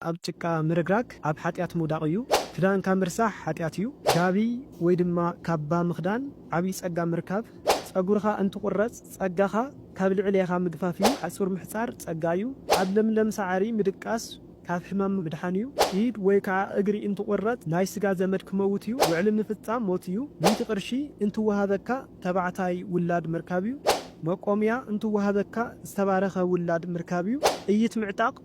ኣብ ጭቃ ምርግራግ ኣብ ሓጢኣት ምውዳቕ እዩ። ክዳንካ ምርሳሕ ሓጢኣት እዩ። ጋቢ ወይ ድማ ካባ ምኽዳን ዓብዪ ጸጋ ምርካብ። ጸጉርኻ እንትቑረጽ ጸጋኻ ካብ ልዕሌኻ ምግፋፍ እዩ። ሓጹር ምሕጻር ጸጋ እዩ። ኣብ ለምለም ሳዕሪ ምድቃስ ካብ ሕማም ምድሓን እዩ። ኢድ ወይ ከዓ እግሪ እንትቑረጽ ናይ ስጋ ዘመድ ክመውት እዩ። ውዕሊ ምፍጻም ሞት እዩ። ሚእቲ ቅርሺ እንትወሃበካ ተባዕታይ ውላድ ምርካብ እዩ። መቆምያ እንትወሃበካ ዝተባረኸ ውላድ ምርካብ እዩ። ጥይት ምዕጣቕ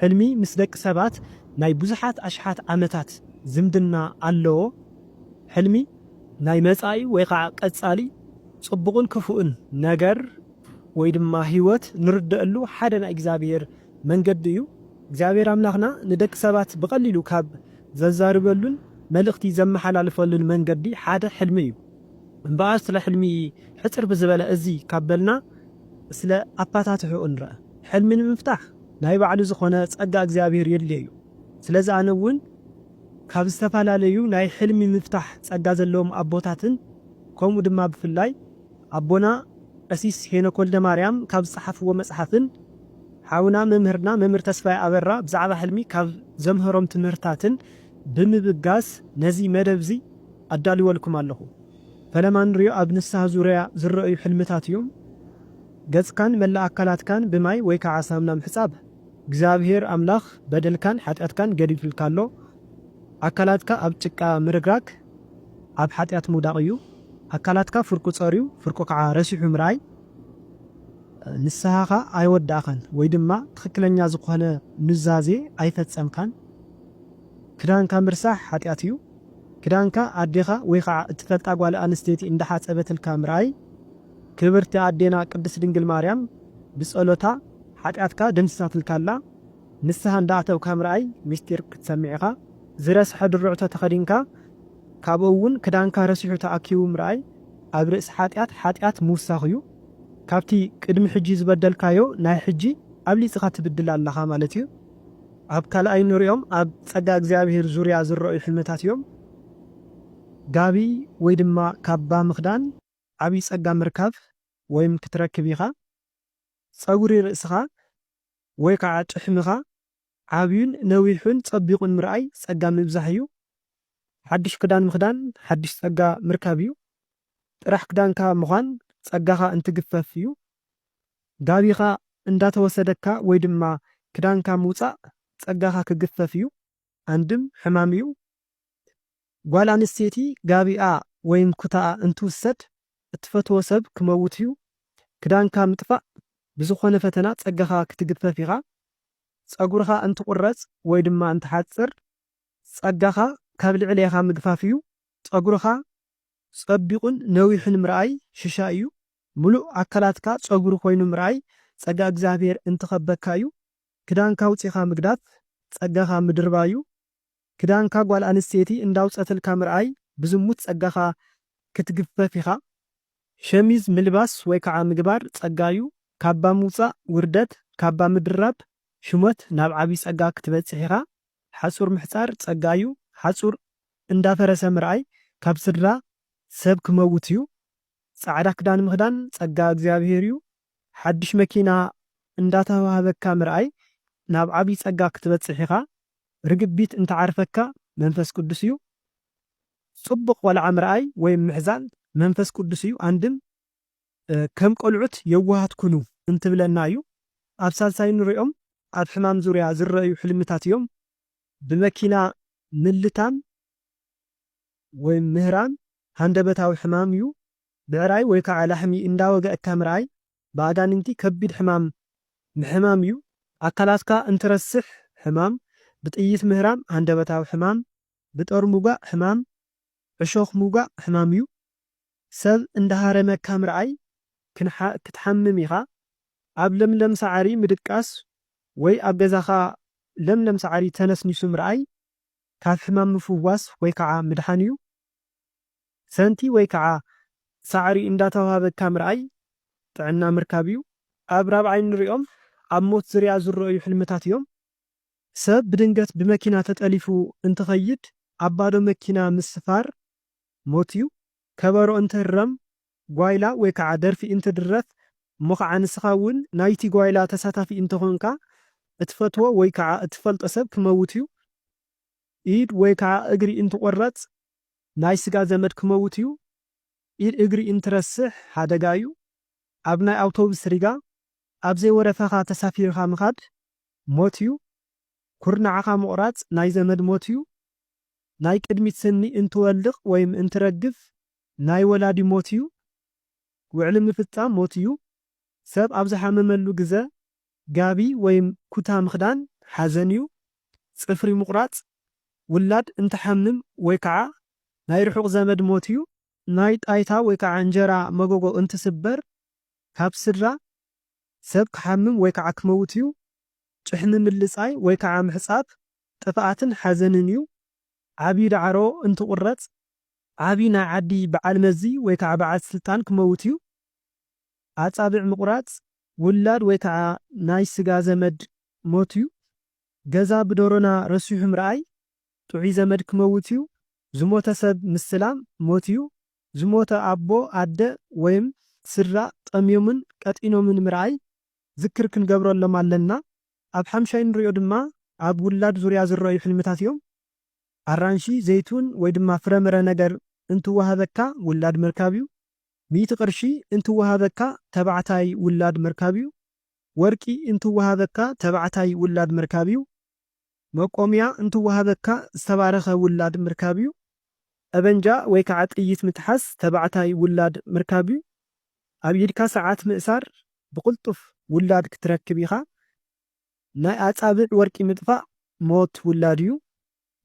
ሕልሚ ምስ ደቂ ሰባት ናይ ብዙሓት ኣሽሓት ዓመታት ዝምድና ኣለዎ። ሕልሚ ናይ መጻኢ ወይ ኸዓ ቀጻሊ ጽቡቕን ክፉእን ነገር ወይ ድማ ህይወት ንርደኣሉ ሓደ ናይ እግዚኣብሔር መንገዲ እዩ። እግዚኣብሔር ኣምላኽና ንደቂ ሰባት ብቐሊሉ ካብ ዘዛርበሉን መልእኽቲ ዘመሓላልፈሉን መንገዲ ሓደ ሕልሚ እዩ። እምበኣር ስለ ሕልሚ ሕጽር ብዝበለ እዚ ካብ በልና ስለ ኣፋታትሕኡ ንርኣ። ሕልሚ ንምፍታሕ ናይ ባዕሉ ዝኾነ ጸጋ እግዚኣብሔር የድልዮ'ዩ። ስለዚ ኣነ ውን ካብ ዝተፋላለዩ ናይ ሕልሚ ምፍታሕ ጸጋ ዘለዎም ኣቦታትን ከምኡ ድማ ብፍላይ ኣቦና ቀሲስ ሄኖክ ወልደማርያም ካብ ዝጸሓፍዎ መጽሓፍን ሓውና መምህርና መምህር ተስፋይ ኣበራ ብዛዕባ ሕልሚ ካብ ዘምህሮም ትምህርታትን ብምብጋስ ነዚ መደብ'ዚ ኣዳልወልኩም ኣለኹ። ፈለማ ንሪኦ ኣብ ንስሃ ዙርያ ዝረኣዩ ሕልምታት እዮም። ገጽካን መላእ ኣካላትካን ብማይ ወይ ከኣ ሳምና ምሕጻብ። እግዚኣብሄር ኣምላኽ በደልካን ሓጢኣትካን ገዲፉልካ ኣሎ። ኣካላትካ ኣብ ጭቃ ምርግራግ ኣብ ሓጢኣት ምውዳቕ እዩ። ኣካላትካ ፍርቁ ጸርዩ ፍርቁ ከኣ ረሲሑ ምርኣይ ንስሃኻ ኣይወዳእካን ወይ ድማ ትኽክለኛ ዝኾነ ኑዛዜ ኣይፈጸምካን። ክዳንካ ምርሳሕ ሓጢኣት እዩ። ክዳንካ ኣዴኻ ወይ ከኣ እትፈልጣ ጓል ኣንስተይቲ እንዳሓጸበትልካ ምርኣይ። ክብርቲ ኣዴና ቅድስት ድንግል ማርያም ብጸሎታ ሓጢኣትካ ደምሲሳትልካ ኣላ ንስሃ እንዳ ኣተውካ ምርኣይ ምስጢር ክትሰምዕ ኢኻ ዝረስሐ ድርዕቶ ተኸዲንካ ካብኡ ውን ክዳንካ ረሲሑ ተኣኪቡ ምርኣይ ኣብ ርእሲ ሓጢኣት ሓጢኣት ምውሳኽ እዩ ካብቲ ቅድሚ ሕጂ ዝበደልካዮ ናይ ሕጂ ኣብሊጽኻ ትብድል ኣለኻ ማለት እዩ ኣብ ካልኣይ እንርእዮም ኣብ ጸጋ እግዚኣብሄር ዙርያ ዝረኣዩ ሕልምታት እዮም ጋቢ ወይ ድማ ካባ ምኽዳን። ዓቢ ጸጋ ምርካብ ወይም ክትረክብ ኢኻ። ጸጉሪ ርእስኻ ወይ ከኣ ጭሕምኻ ዓብዩን ነዊሑን ጸቢቑን ምርኣይ ጸጋ ምብዛሕ እዩ። ሓድሽ ክዳን ምኽዳን ሓድሽ ጸጋ ምርካብ እዩ። ጥራሕ ክዳንካ ምዃን ጸጋኻ እንትግፈፍ እዩ። ጋቢኻ እንዳተወሰደካ ወይ ድማ ክዳንካ ምውጻእ ጸጋኻ ክግፈፍ እዩ። ኣንድም ሕማም እዩ። ጓል ኣንስተይቲ ጋቢኣ ወይም ኩታኣ እንትውሰድ እትፈትዎ ሰብ ክመውትዩ ክዳንካ ምጥፋእ ብዝኾነ ፈተና ጸጋኻ ክትግፈፍ ኢኻ ጸጉርኻ እንትቑረጽ ወይ ድማ እንትሓጽር ጸጋኻ ካብ ልዕሌኻ ምግፋፍዩ ጸጉርኻ ጸቢቑን ነዊሕን ምርኣይ ሽሻይዩ ምሉእ ኣካላትካ ጸጉሪ ኮይኑ ምርኣይ ጸጋ እግዚኣብሔር እንትኸበካዩ ክዳንካ ኣውጺኻ ምግዳፍ ጸጋኻ ምድርባዩ ክዳንካ ጓል ኣንስተይቲ እንዳውጸትልካ ምርኣይ ብዝሙት ጸጋኻ ክትግፈፍ ኢኻ። ሸሚዝ ምልባስ ወይ ካዓ ምግባር ጸጋዩ፣ ካባ ምውጻእ ውርደት፣ ካባ ምድራብ ሹመት ናብ ዓብይ ጸጋ ክትበጽሕ ኢኻ። ሓጹር ምሕጻር ጸጋዩ፣ ሓጹር እንዳፈረሰ ምርኣይ ካብ ስድራ ሰብ ክመውትዩ። ጻዕዳ ክዳን ምኽዳን ጸጋ እግዚኣብሄር እዩ። ሓድሽ መኪና እንዳተዋህበካ ምርኣይ ናብ ዓብይ ጸጋ ክትበጽሕ ኢኻ። ርግቢት እንተዓርፈካ መንፈስ ቅዱስ እዩ። ጽቡቕ ቆልዓ ምርኣይ ወይም ምሕዛል መንፈስ ቅዱስ እዩ። ኣንድም ከም ቆልዑት የዋሃት ኩኑ እንትብለና እዩ። ኣብ ሳልሳይ እንሪኦም ኣብ ሕማም ዙርያ ዝረኣዩ ሕልምታት እዮም። ብመኪና ምልታም። ወይ ምህራም ሃንደበታዊ ሕማም እዩ። ብዕራይ ወይ ከዓ ላሕሚ እንዳወገእካ ምርኣይ ብኣጋንንቲ ከቢድ ሕማም ምሕማም እዩ። ኣካላትካ እንትረስሕ ሕማም፣ ብጥይት ምህራም ሃንደበታዊ ሕማም፣ ብጦር ምውጋእ ሕማም፣ ዕሾኽ ምውጋእ ሕማም እዩ። ሰብ እንዳሃረመካ ምርኣይ ክትሓምም ኢኻ። ኣብ ለምለም ሳዕሪ ምድቃስ ወይ ኣብ ገዛኻ ለምለም ሳዕሪ ተነስኒሱ ምርኣይ። ካብ ሕማም ምፍዋስ ወይ ከዓ ምድሓን እዩ። ሰንቲ ወይ ከዓ ሳዕሪ እንዳተውሃበካ ምርኣይ ጥዕና ምርካብ እዩ። ኣብ ራብዓይ እንሪኦም ኣብ ሞት ዝርያ ዝረእዩ ሕልምታት እዮም። ሰብ ብድንገት ብመኪና ተጠሊፉ እንትኸይድ ኣብ ባዶ መኪና ምስፋር ሞት እዩ። ከበሮ እንትህረም ጓይላ ወይ ካዓ ደርፊ እንትድረፍ እሞ ካዓ ንስኻ እውን ናይቲ ጓይላ ተሳታፊ እንተኾንካ እትፈትዎ ወይ ካዓ እትፈልጦ ሰብ ክመውት እዩ፣ ኢድ ወይ ካዓ እግሪ እንትቆረፅ፣ ናይ ስጋ ዘመድ ክመውት እዩ፣ ኢድ እግሪ እንትረስሕ ሓደጋ እዩ፣ ኣብ ናይ ኣውቶብስ ሪጋ ኣብ ዘይወረፈኻ ተሳፊርኻ ምኻድ ሞት እዩ፣ ኩርናዕኻ ምቑራፅ ናይ ዘመድ ሞት እዩ፣ ናይ ቅድሚት ስኒ እንትወልቕ ወይም እንትረግፍ ናይ ወላዲ ሞት እዩ። ውዕሊ ምፍጻም ሞት እዩ። ሰብ ኣብ ዝሓመመሉ ግዘ ጋቢ ወይም ኩታ ምኽዳን ሓዘን እዩ። ጽፍሪ ምቑራጽ ውላድ እንትሓምም ወይ ከዓ ናይ ርሑቕ ዘመድ ሞት እዩ። ናይ ጣይታ ወይ ከዓ እንጀራ መጎጎ እንትስበር ካብ ስድራ ሰብ ክሓምም ወይ ከዓ ክመውት እዩ። ጭሕሚ ምልጻይ ወይ ከዓ ምሕጻብ ጥፍኣትን ሓዘንን እዩ። ዓብዪ ዳዕሮ እንትቑረጽ ዓቢ ናይ ዓዲ በዓል መዚ ወይ ከዓ በዓል ስልጣን ክመውት እዩ። ኣፃብዕ ምቑራፅ፣ ውላድ ወይ ከዓ ናይ ስጋ ዘመድ ሞት እዩ። ገዛ ብዶሮና ረሲሑ ምርኣይ፣ ጥዑይ ዘመድ ክመውት እዩ። ዝሞተ ሰብ ምስላም ሞት እዩ። ዝሞተ ኣቦ፣ ኣደ ወይም ስድራ ጠምዮምን ቀጢኖምን ምርኣይ ዝክር ክንገብረሎም ኣለና። ኣብ ሓምሻይ እንሪኦ ድማ ኣብ ውላድ ዙርያ ዝረኣዩ ሕልምታት እዮም። ኣራንሺ፣ ዘይቱን ወይ ድማ ፍረምረ ነገር እንትወሃበካ ውላድ ምርካብ እዩ። ሚእቲ ቅርሺ እንትወሃበካ ተባዕታይ ውላድ ምርካብ እዩ። ወርቂ እንትወሃበካ ተባዕታይ ውላድ ምርካብ እዩ። መቆምያ እንትወሃበካ ዝተባረኸ ውላድ ምርካብ እዩ። ጠበንጃ ወይ ከዓ ጥይት ምትሓዝ ተባዕታይ ውላድ ምርካብ እዩ። ኣብ ኢድካ ሰዓት ምእሳር ብቕልጡፍ ውላድ ክትረክብ ኢኻ። ናይ ኣጻብዕ ወርቂ ምጥፋእ ሞት ውላድ እዩ።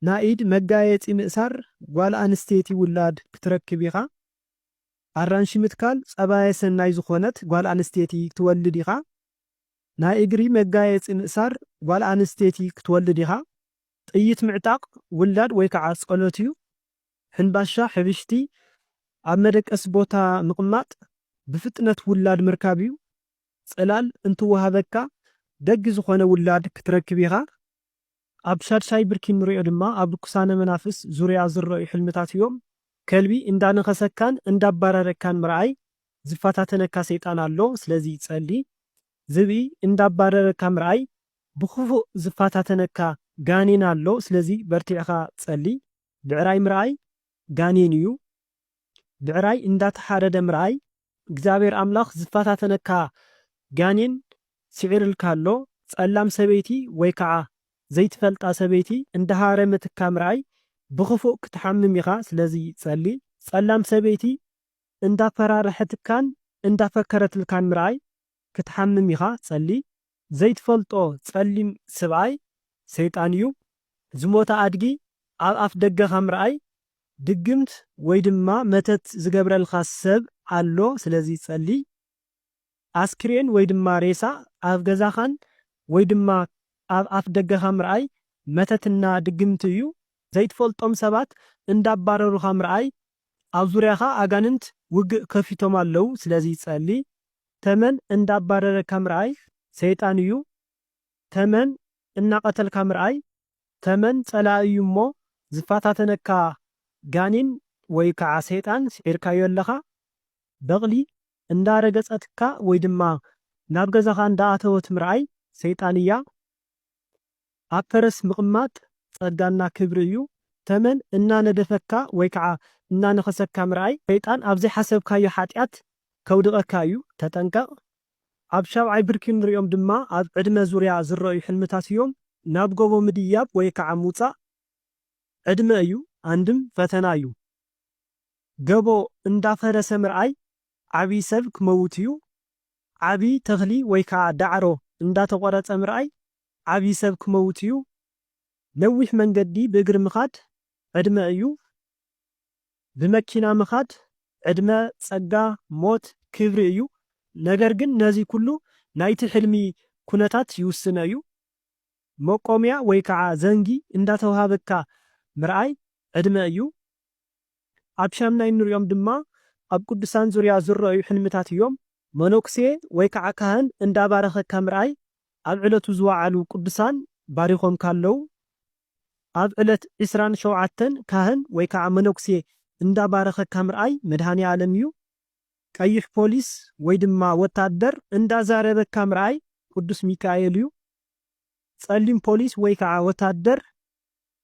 ናይ ኢድ መጋየጺ ምእሳር ጓል ኣንስተይቲ ውላድ ክትረክብ ኢኻ። ኣራንሺ ምትካል ጸባየ ሰናይ ዝኾነት ጓል ኣንስተይቲ ክትወልድ ኢኻ። ናይ እግሪ መጋየጺ ምእሳር ጓል ኣንስተይቲ ክትወልድ ኢኻ። ጥይት ምዕጣቕ ውላድ ወይ ከዓ ጸሎት እዩ። ሕንባሻ፣ ሕብሽቲ፣ ኣብ መደቀሲ ቦታ ምቕማጥ ብፍጥነት ውላድ ምርካብ እዩ። ጽላል እንትወሃበካ ደግ ዝኾነ ውላድ ክትረክብ ኢኻ። ኣብ ሻድሻይ ብርኪ እንሪኦ ድማ ኣብ ርኩሳነ መናፍስ ዙርያ ዝረኣዩ ሕልምታት እዮም። ከልቢ እንዳነኸሰካን እንዳባረረካን ምርኣይ ዝፈታተነካ ሰይጣን ኣሎ ስለዚ ጸሊ። ዝብኢ እንዳባረረካ ምርኣይ ብኽፉእ ዝፈታተነካ ጋኔን ኣሎ ስለዚ በርቲዕኻ ጸሊ። ብዕራይ ምርኣይ ጋኔን እዩ። ብዕራይ እንዳተሓረደ ምርኣይ እግዚኣብሔር ኣምላኽ ዝፈታተነካ ጋኔን ስዒርልካ ኣሎ ጸላም ሰበይቲ ወይ ከዓ ዘይትፈልጣ ሰበይቲ እንዳሃረመትካ ምርኣይ ብኽፉእ ክትሓምም ኢኻ ስለዚ ጸሊ ጸላም ሰበይቲ እንዳፈራረሐትካን እንዳፈከረትልካን ምርኣይ ክትሓምም ኢኻ ጸሊ ዘይትፈልጦ ጸሊም ስብኣይ ሰይጣን እዩ። ዝሞተ ኣድጊ ኣብ ኣፍ ደገኻ ምርኣይ ድግምት ወይ ድማ መተት ዝገብረልካ ሰብ ኣሎ ስለዚ ጸልይ። ኣስክሬን ወይ ድማ ሬሳ ኣብ ገዛኻን ወይ ድማ ኣብ ኣፍ ደገኻ ምርኣይ መተት እና ድግምት እዩ። ዘይትፈልጦም ሰባት እንዳባረሩኻ ምርኣይ ኣብ ዙርያኻ ኣጋንንት ውግእ ከፊቶም ኣለዉ ስለዚ ጸልይ። ተመን እንዳባረረካ ምርኣይ ሰይጣን እዩ ተመን እናቀተልካ ምርኣይ ተመን ጸላኢ እዩ እሞ ዝፋታተነካ ጋኒን ወይ ካዓ ሰይጣን ሲዒርካዮ ኣለኻ በቅሊ እንዳ ረገጸትካ ወይ ድማ ናብ ገዛኻ እንዳ ኣተወት ምርኣይ ሰይጣን እያ ኣብ ፈረስ ምቕማጥ ጸጋና ክብሪ እዩ። ተመን እናነደፈካ ወይ ከዓ እናነኸሰካ ምርኣይ ሰይጣን ኣብ ዘይሓሰብካዮ ሓጢኣት ከውድቐካ እዩ ተጠንቀቕ። ኣብ ሻብዓይ ብርኪ እንሪኦም ድማ ኣብ ዕድመ ዙርያ ዝረኣዩ ሕልምታት እዮም። ናብ ጎቦ ምድያብ ወይ ከዓ ምውፃእ ዕድመ እዩ ኣንድም ፈተና እዩ። ገቦ እንዳፈረሰ ምርኣይ ዓብይ ሰብ ክመውት እዩ። ዓብይ ተኽሊ ወይ ከዓ ዳዕሮ እንዳተቖረፀ ምርኣይ ዓብይ ሰብ ክመውት እዩ ነዊሕ መንገዲ ብእግሪ ምኻድ ዕድመ እዩ ብመኪና ምኻድ ዕድመ ፀጋ ሞት ክብሪ እዩ ነገር ግን ነዚ ኩሉ ናይቲ ሕልሚ ኩነታት ይውስኖ እዩ መቆምያ ወይ ከዓ ዘንጊ እንዳተውሃበካ ምርኣይ ዕድመ እዩ ኣብ ሻምናይ እንርእዮም ድማ ኣብ ቅዱሳን ዙርያ ዝረኣዩ ሕልምታት እዮም። መነኩሴ ወይ ከዓ ካህን እንዳ ባረኸካ ምርኣይ ኣብ ዕለቱ ዝወዓሉ ቅዱሳን ባሪኾምካ ኣለው። ኣብ ዕለት ዕስራን ሸውዓተን ካህን ወይ ከዓ መነኩሴ እንዳ ባረኸካ ምርኣይ መድኃኔዓለም እዩ። ቀይሕ ፖሊስ ወይ ድማ ወታደር እንዳ ዛረበካ ምርኣይ ቅዱስ ሚካኤል እዩ። ፀሊም ፖሊስ ወይ ከዓ ወታደር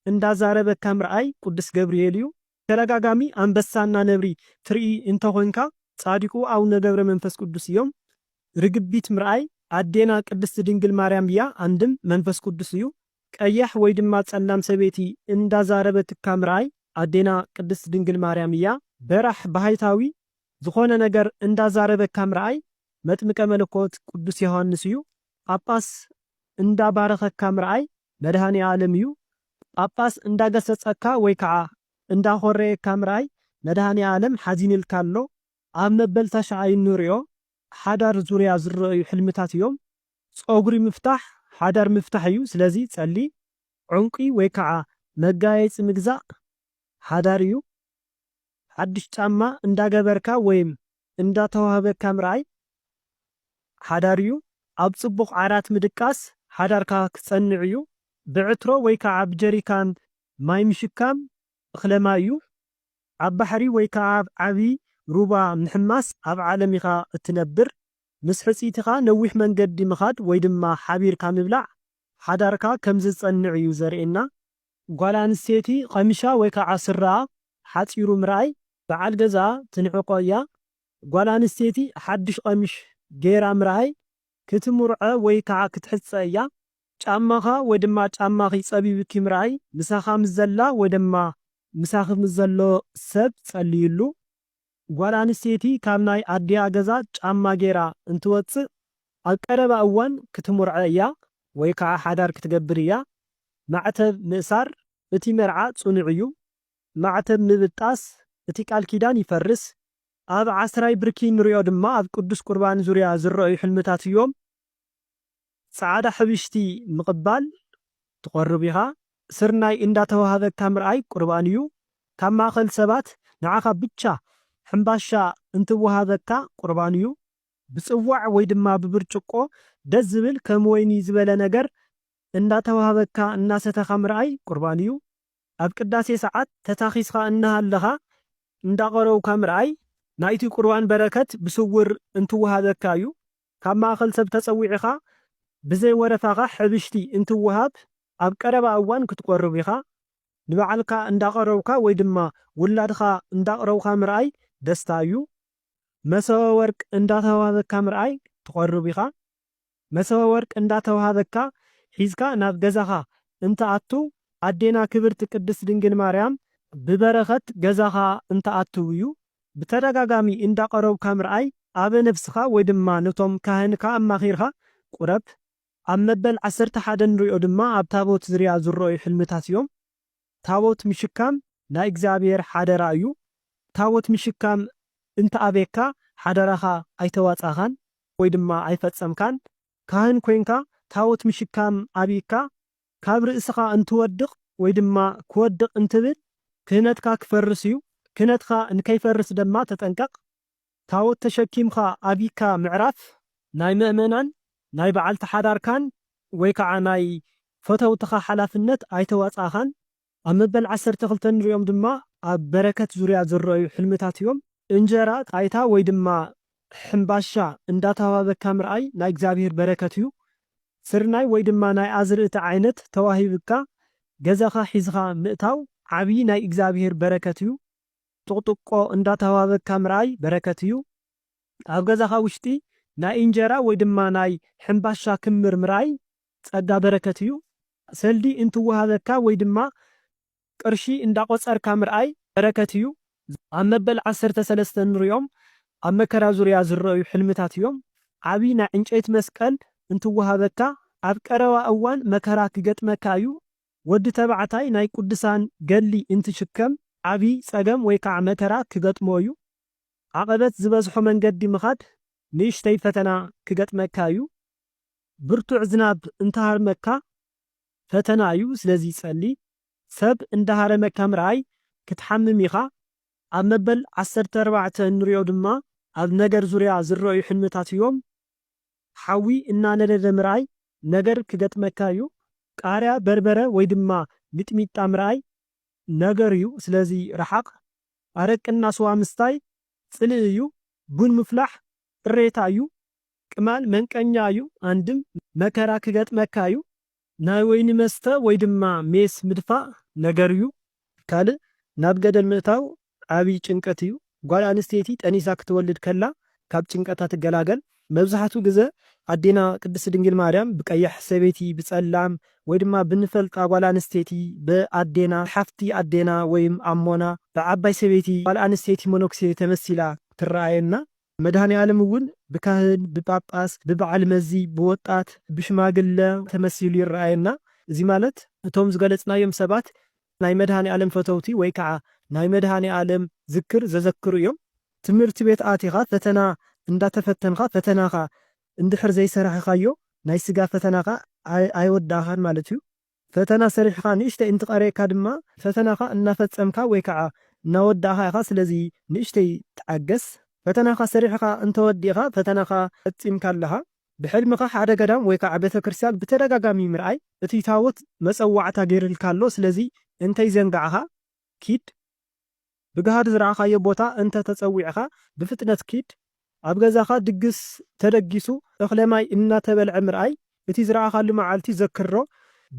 እንዳዛረበካ ምርኣይ ቁዱስ ገብርኤል እዩ ብተዳጋጋሚ ኣንበሳ እና ነብሪ ትርኢ እንተ ኮንካ ጻዲቁ ኣውነ ገብረ መንፈስ ቁዱስ እዮም ርግቢት ምርኣይ ኣዴና ቅድስት ድንግል ማርያም እያ ኣንድም መንፈስ ቁዱስ እዩ ቀያሕ ወይ ድማ ጸላም ሰበይቲ እንዳ ዛረበትካ ምርኣይ ኣዴና ቅድስት ድንግል ማርያም እያ በራሕ ባሃይታዊ ዝኮነ ነገር እንዳ ዛረበካ ምርኣይ መጥምቀ መለኮት ቁዱስ ዮሃንስ እዩ ጳጳስ እንዳ ባረከካ ምርኣይ መድሃኒኣለም እዩ ጳጳስ እንዳገሰጸካ ወይ ከዓ እንዳ ኾረየካ ምርኣይ መድሃኒኣለም ሓዚንልካ ኣሎ ኣብ መበል ታሽዓይ እንሪኦ ሓዳር ዙርያ ዝረኣዩ ሕልምታት እዮም ጾጉሪ ምፍታሕ ሓዳር ምፍታሕ እዩ ስለዚ ጸሊ ዑንቂ ወይ ከዓ መጋየጺ ምግዛእ ሓዳር እዩ ሓድሽ ጫማ እንዳገበርካ ወይም እንዳተዋህበካ ምርኣይ ሓዳር እዩ። ኣብ ጽቡቕ ዓራት ምድቃስ ሓዳርካ ክጸንዕ እዩ። ብዕትሮ ወይ ከኣ ብጀሪካን ማይ ምሽካም እኽለ ማይ እዩ። ኣብ ባሕሪ ወይ ከኣ ኣብ ዓቢ ሩባ ምሕማስ ኣብ ዓለም ኢኻ እትነብር። ምስ ሕጽይትኻ ነዊሕ መንገዲ ምኻድ ወይ ድማ ሓቢርካ ምብላዕ ሓዳርካ ከም ዝጸንዕ እዩ ዘርእየና። ጓል ኣንስተይቲ ቐሚሻ ወይ ከዓ ስረኣ ሓፂሩ ምርኣይ በዓል ገዝኣ ትንዕቆ እያ። ጓል ኣንስተይቲ ሓዱሽ ቐሚሽ ገይራ ምርኣይ ክትምርዖ ወይ ከዓ ክትሕፀ እያ። ጫማኻ ወይ ድማ ጫማኺ ፀቢብኪ ምርኣይ ምሳኻ ምስ ዘላ ወይ ድማ ምሳኺ ምስ ዘሎ ሰብ ፀልይሉ። ጓል ኣንስተይቲ ካብ ናይ ኣዲኣ ገዛ ጫማ ገይራ እንትወጽእ ኣብ ቀረባ እዋን ክትሙርዐ እያ ወይ ከኣ ሓዳር ክትገብር እያ። ማዕተብ ምእሳር እቲ መርዓ ጽኑዕ እዩ። ማዕተብ ምብጣስ እቲ ቃል ኪዳን ይፈርስ። ኣብ ዓስራይ ብርኪ እንሪኦ ድማ ኣብ ቅዱስ ቁርባን ዙርያ ዝረኣዩ ሕልምታት እዮም። ጻዕዳ ሕብሽቲ ምቕባል ትቐርብ ኢኻ፣ ስርናይ እንዳተዋህበካ ምርኣይ ቁርባን እዩ፣ ካብ ማእከል ሰባት ንዓኻ ብቻ ሕምባሻ እንትዋሃበካ ቁርባን እዩ፣ ብጽዋዕ ወይ ድማ ብብርጭቆ ደስ ዝብል ከም ወይኒ ዝበለ ነገር እንዳተዋህበካ እናሰተኻ ምርኣይ ቁርባን እዩ፣ ኣብ ቅዳሴ ሰዓት ተታኺስኻ እናሃለኻ እንዳቐረውካ ምርኣይ ናይቲ ቁርባን በረከት ብስውር እንትዋሃበካ እዩ፣ ካብ ማእኸል ሰብ ተፀዊዕኻ ብዘይ ወረታኻ ሕብሽቲ እንትወሃብ ኣብ ቀረባ እዋን ክትቆርብ ኢኻ። ንባዕልካ እንዳቐረብካ ወይ ድማ ውላድኻ እንዳቕረብኻ ምርኣይ ደስታ እዩ። መሶበ ወርቅ እንዳተዋህበካ ምርኣይ ትቖርብ ኢኻ። መሶበ ወርቅ እንዳተዋህበካ ሒዝካ ናብ ገዛኻ እንትኣቱ ኣዴና ክብርቲ ቅድስት ድንግል ማርያም ብበረኸት ገዛኻ እንትኣትው እዩ ብተደጋጋሚ እንዳቐረብካ ምርኣይ ኣብ ነብስኻ ወይ ድማ ነቶም ካህንካ ኣማኺርካ ቁረብ። ኣብ መበል ዓሰርተ ሓደ ንሪኦ ድማ ኣብ ታቦት ዝርያ ዝረኣዩ ሕልምታት እዮም። ታቦት ምሽካም ናይ እግዚኣብሔር ሓደራ እዩ። ታቦት ምሽካም እንተኣብየካ ሓደራኻ ኣይተዋጻእካን ወይ ድማ ኣይፈጸምካን። ካህን ኮይንካ ታቦት ምሽካም ኣብይካ ካብ ርእስኻ እንትወድቕ ወይ ድማ ክወድቕ እንትብል ክህነትካ ክፈርስ እዩ፣ ክህነትካ ንከይፈርስ ደማ ተጠንቀቕ፣ ታዎት ተሸኪምካ ኣቢካ ምዕራፍ ናይ መእመናን ናይ በዓልቲ ሓዳርካን ወይ ከዓ ናይ ፈተውትኻ ሓላፍነት ኣይተዋፅኣኻን፣ ኣብ መበል ዓሰርተ ክልተ እንሪኦም ድማ ኣብ በረከት ዙርያ ዝረኣዩ ሕልምታት እዮም። እንጀራ ጣይታ ወይ ድማ ሕምባሻ እንዳተዋሃበካ ምርኣይ ናይ እግዚኣብሄር በረከት እዩ። ስርናይ ወይ ድማ ናይ ኣዝርእቲ ዓይነት ተዋሂብካ ገዛኻ ሒዝኻ ምእታው ዓብዪ ናይ እግዚኣብሄር በረከት እዩ። ጥቅጥቆ እንዳተዋሃበካ ምርኣይ በረከት እዩ። ኣብ ገዛኻ ውሽጢ ናይ እንጀራ ወይ ድማ ናይ ሕምባሻ ክምር ምርኣይ ጸጋ በረከት እዩ ሰልዲ እንትወሃበካ ወይ ድማ ቅርሺ እንዳቆጸርካ ምርኣይ በረከት እዩ ኣብ መበል ዓሰርተ ሰለስተ እንሪኦም ኣብ መከራ ዙርያ ዝረኣዩ ሕልምታት እዮም ዓቢ ናይ ዕንጨይቲ መስቀል እንትወሃበካ ኣብ ቀረባ እዋን መከራ ክገጥመካ እዩ ወዲ ተባዕታይ ናይ ቁድሳን ገድሊ እንትሽከም ዓቢ ጸገም ወይ ከዓ መከራ ክገጥሞ እዩ ዓቀበት ዝበዝሖ መንገዲ ምካድ ንእሽተይ ፈተና ክገጥመካ እዩ ብርቱዕ ዝናብ እንተሃርመካ ፈተና እዩ ስለዚ ጸሊ ሰብ እንዳሃረመካ ምርኣይ ክትሓምም ኢኻ ኣብ መበል ዓሰርተ ኣርባዕተ እንሪኦ ድማ ኣብ ነገር ዙርያ ዝረእዩ ሕልምታት እዮም ሓዊ እናነደደ ምርኣይ ነገር ክገጥመካ እዩ ቃርያ በርበረ ወይ ድማ ሚጥሚጣ ምርኣይ ነገር እዩ ስለዚ ርሓቅ ኣረቅና ስዋ ምስታይ ጽልኢ እዩ ቡን ምፍላሕ ቅሬታ እዩ ቅማል መንቀኛ እዩ ኣንድም መከራ ክገጥመካ እዩ። ናይ ወይኒ መስተ ወይ ድማ ሜስ ምድፋእ ነገር እዩ። ካልእ ናብ ገደል ምእታው ዓቢ ጭንቀት እዩ። ጓል ኣንስተይቲ ጠኒሳ ክትወልድ ከላ ካብ ጭንቀታ ትገላገል። መብዛሕቱ ግዘ ኣዴና ቅድስቲ ድንግል ማርያም ብቀያሕ ሰበይቲ ብጸላም ወይ ድማ ብንፈልጣ ጓል ኣንስተይቲ ብኣዴና ሓፍቲ ኣዴና ወይም ኣሞና ብዓባይ ሰበይቲ ጓል ኣንስተይቲ መነኩሴ ተመሲላ ትረኣየና። መድኃኔዓለም እውን ብካህን፣ ብጳጳስ፣ ብበዓል መዚ፣ ብወጣት፣ ብሽማግለ ተመሲሉ ይረኣየና። እዚ ማለት እቶም ዝገለጽናዮም ሰባት ናይ መድኃኔዓለም ፈተውቲ ወይ ከዓ ናይ መድኃኔዓለም ዝክር ዘዘክሩ እዮም። ትምህርቲ ቤት ኣቲኻ ፈተና እንዳተፈተንኻ ፈተናኻ እንድሕር ዘይሰራሕኻዮ ናይ ሥጋ ፈተናኻ ኣይወዳእኻን ማለት እዩ። ፈተና ሰሪሕኻ ንእሽተይ እንትቐርየካ ድማ ፈተናኻ እናፈጸምካ ወይ ከዓ እናወዳእኻ ኢኻ ስለዚ ንእሽተይ ተዓገስ። ፈተናኻ ሰሪሕኻ እንተወዲእኻ ፈተናኻ ፈጺምካ ኣለኻ። ብሕልምኻ ሓደ ገዳም ወይ ከዓ ቤተክርስትያን ብተደጋጋሚ ምርኣይ እቱይ ታቦት መጸዋዕታ ገይርልካ ኣሎ ስለዚ እንተይዘንጋዕኻ ኪድ። ብጋህዲ ዝረኣኻዮ ቦታ እንተ ተጸዊዕካ ብፍጥነት ኪድ፣ ኣብ ገዛኻ ድግስ ተደጊሱ እኽለማይ እናተበልዐ ምርኣይ እቲ ዝረኣኻሉ መዓልቲ ዘክርሮ፣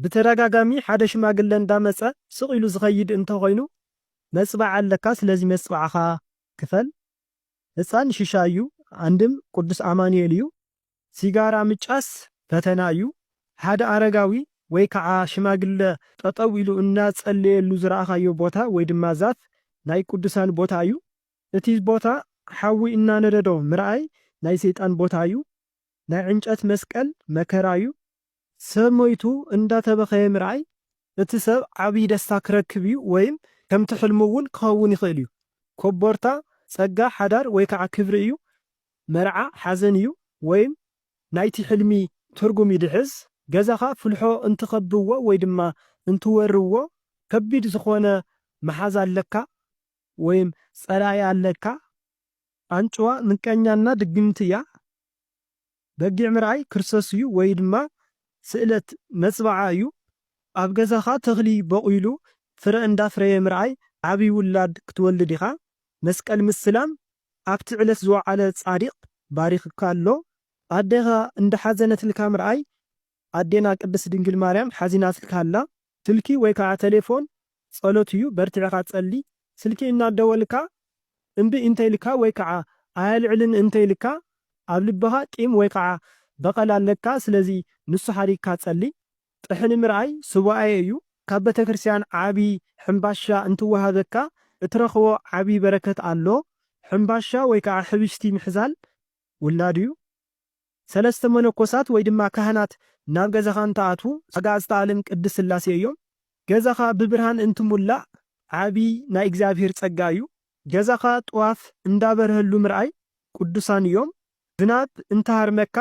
ብተደጋጋሚ ሓደ ሽማግለ እንዳ መጸ ስቕ ኢሉ ዝኸይድ እንተ ኾይኑ መጽባዕ ኣለካ ስለዚ መጽባዕኻ ክፈል፣ ህጻን ሽሻይ እዩ ኣንድም ቁዱስ ኣማኑኤል እዩ ሲጋራ ምጫስ ፈተና እዩ። ሓደ ኣረጋዊ ወይ ከዓ ሽማግለ ጠጠው ኢሉ እናፀለየሉ ዝረኣኻዮ ቦታ ወይ ድማ ዛፍ ናይ ቅዱሳን ቦታ እዩ። እቲ ቦታ ሓዊ እናነደዶ ምርኣይ ናይ ሰይጣን ቦታ እዩ። ናይ ዕንጨት መስቀል መከራ እዩ። ሰብ ሞይቱ እንዳተበኸየ ምርኣይ እቲ ሰብ ዓብይ ደስታ ክረክብ እዩ ወይም ከምቲ ሕልሙ እውን ክኸውን ይኽእል እዩ። ኮቦርታ ፀጋ ሓዳር ወይ ከዓ ክብሪ እዩ፣ መርዓ ሓዘን እዩ ወይም ናይቲ ሕልሚ ትርጉም ይድሕዝ። ገዛኻ ፍልሖ እንትኸብዎ ወይ ድማ እንትወርዎ ከቢድ ዝኾነ መሓዛ ኣለካ ወይም ፀላኢ ኣለካ። ኣንጭዋ ምቀኛና ድግምቲ እያ። በጊዕ ምርኣይ ክርስቶስ እዩ ወይ ድማ ስእለት መፅብዓ እዩ። ኣብ ገዛኻ ተኽሊ ቦቊሉ ፍረ እንዳፍረየ ምርኣይ ዓብይ ውላድ ክትወልድ ኢኻ። መስቀል ምስላም ኣብቲ ዕለት ዝወዓለ ፃዲቕ ባሪኽካ ኣሎ። ኣዴኻ እንዳሓዘነትልካ ምርኣይ ኣዴና ቅድስት ድንግል ማርያም ሓዚናትልካ ኣላ ስልኪ ወይ ካዓ ተሌፎን ፀሎት እዩ በርቲዕኻ ፀሊ ስልኪ እናደወልካ እምቢ እንተኢልካ ወይ ካዓ ኣየልዕልን እንተኢልካ ኣብ ልብኻ ቂም ወይ ካዓ በቐል ኣለካ ስለዚ ንሱ ሓዲግካ ፀሊ ጥሕኒ ምርኣይ ሱባኤ እዩ ካብ ቤተክርስቲያን ዓብዪ ሕምባሻ እንትወሃበካ እትረኽቦ ዓብዪ በረከት ኣሎ ሕምባሻ ወይ ካዓ ሕብሽቲ ምሕዛል ውላድ እዩ። ሰለስተ መነኮሳት ወይ ድማ ካህናት ናብ ገዛኻ እንትኣትዉ ኣጋእዝተ ኣለም ቅድስት ሥላሴ እዮም። ገዛኻ ብብርሃን እንትሙላእ ዓቢይ ናይ እግዚኣብሔር ጸጋ እዩ። ገዛኻ ጥዋፍ እንዳበርሀሉ ምርኣይ ቅዱሳን እዮም። ዝናብ እንትሃርመካ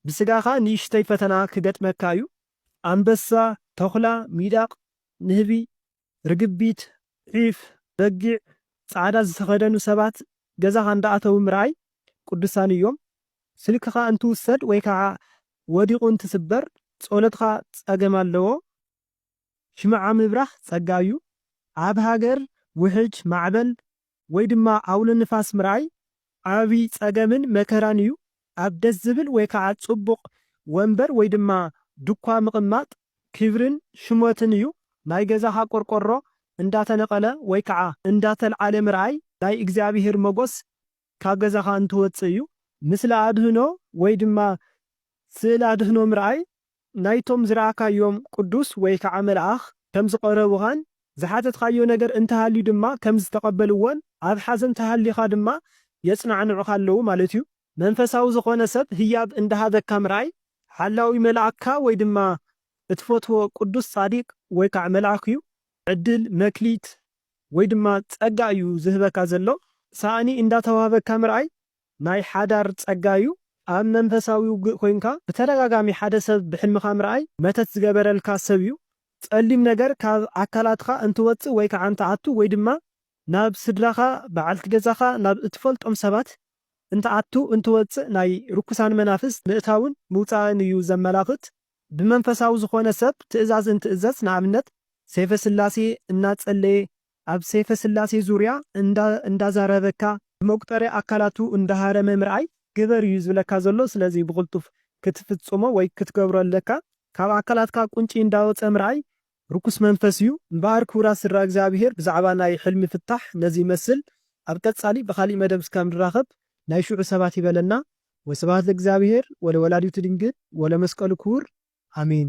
ብሥጋኻ ንእሽተይ ፈተና ክገጥመካ እዩ። ኣንበሳ፣ ተኹላ፣ ሚዳቕ፣ ንህቢ፣ ርግቢት፣ ዒፍ፣ በጊዕ፣ ጻዕዳ ዝተኸደኑ ሰባት ገዛኻ እንዳኣተዉ ምርኣይ ቅዱሳን እዮም። ስልክኻ እንትውሰድ ወይ ካዓ ወዲቑ እንትስበር ጸሎትኻ ጸገም ኣለዎ። ሽምዓ ምብራህ ጸጋ እዩ። ኣብ ሃገር ውሕጅ፣ ማዕበል፣ ወይ ድማ ኣውሎ ንፋስ ምርኣይ ዓቢ ጸገምን መከራን እዩ። ኣብ ደስ ዝብል ወይ ከኣ ጽቡቕ ወንበር ወይ ድማ ዱኳ ምቕማጥ ክብርን ሽሞትን እዩ። ናይ ገዛኻ ቆርቆሮ እንዳተነቐለ ወይ ከኣ እንዳተልዓለ ምርኣይ ናይ እግዚኣብሄር መጎስ ካብ ገዛኻ እንትወጽእ እዩ። ምስሊ ኣድህኖ ወይ ድማ ስእል ኣድህኖ ምርኣይ ናይቶም ዝረኣካዮም ቅዱስ ወይ ከዓ መልኣኽ ከም ዝቐረቡኻን ዝሓተትካዮ ነገር እንተሃልዩ ድማ ከም ዝተቐበልዎን ኣብ ሓዘን ተሃሊኻ ድማ የፅናዕንዑኻ ኣለዉ ማለት እዩ። መንፈሳዊ ዝኾነ ሰብ ህያብ እንዳሃበካ ምርኣይ ሓላዊ መልኣክካ ወይ ድማ እትፈትዎ ቅዱስ ፃዲቅ ወይ ከዓ መልኣኽ እዩ። ዕድል፣ መክሊት ወይ ድማ ፀጋ እዩ ዝህበካ ዘሎ። ሳእኒ እንዳተዋህበካ ምርኣይ ናይ ሓዳር ጸጋ እዩ። ኣብ መንፈሳዊ ውግእ ኮይንካ ብተደጋጋሚ ሓደ ሰብ ብሕልምኻ ምርኣይ መተት ዝገበረልካ ሰብ እዩ። ጸሊም ነገር ካብ ኣካላትኻ እንትወጽእ ወይ ከዓ እንትኣቱ ወይ ድማ ናብ ስድራኻ፣ በዓልቲ ገዛኻ፣ ናብ እትፈልጦም ሰባት እንትኣቱ እንትወጽእ ናይ ርኩሳን መናፍስት ምእታውን ምውጻእን እዩ ዘመላኽት። ብመንፈሳዊ ዝኾነ ሰብ ትእዛዝ እንትእዘዝ ንኣብነት ሴፈ ስላሴ እናጸለየ ኣብ ሰይፈ ስላሴ ዙርያ እንዳ እንዳዛረበካ ብመቁጠርያ ኣካላቱ እንዳሃረመ ምርኣይ ግበር እዩ ዝብለካ ዘሎ ስለዚ ብቅልጡፍ ክትፍጽሞ ወይ ክትገብሮ ኣለካ ካብ ኣካላትካ ቁንጪ እንዳወጸ ምርኣይ ርኩስ መንፈስ እዩ እምበኣር ክቡራት ስድራ እግዚኣብሄር ብዛዕባ ናይ ሕልሚ ፍታሕ ነዚ ይመስል ኣብ ቀጻሊ ብካሊእ መደብ እስካብ ንራከብ ናይ ሽዑ ሰባት ይበለና ወስብሃት ለእግዚኣብሄር ወለወላዲቱ ድንግል ወለመስቀሉ ክቡር ኣሜን።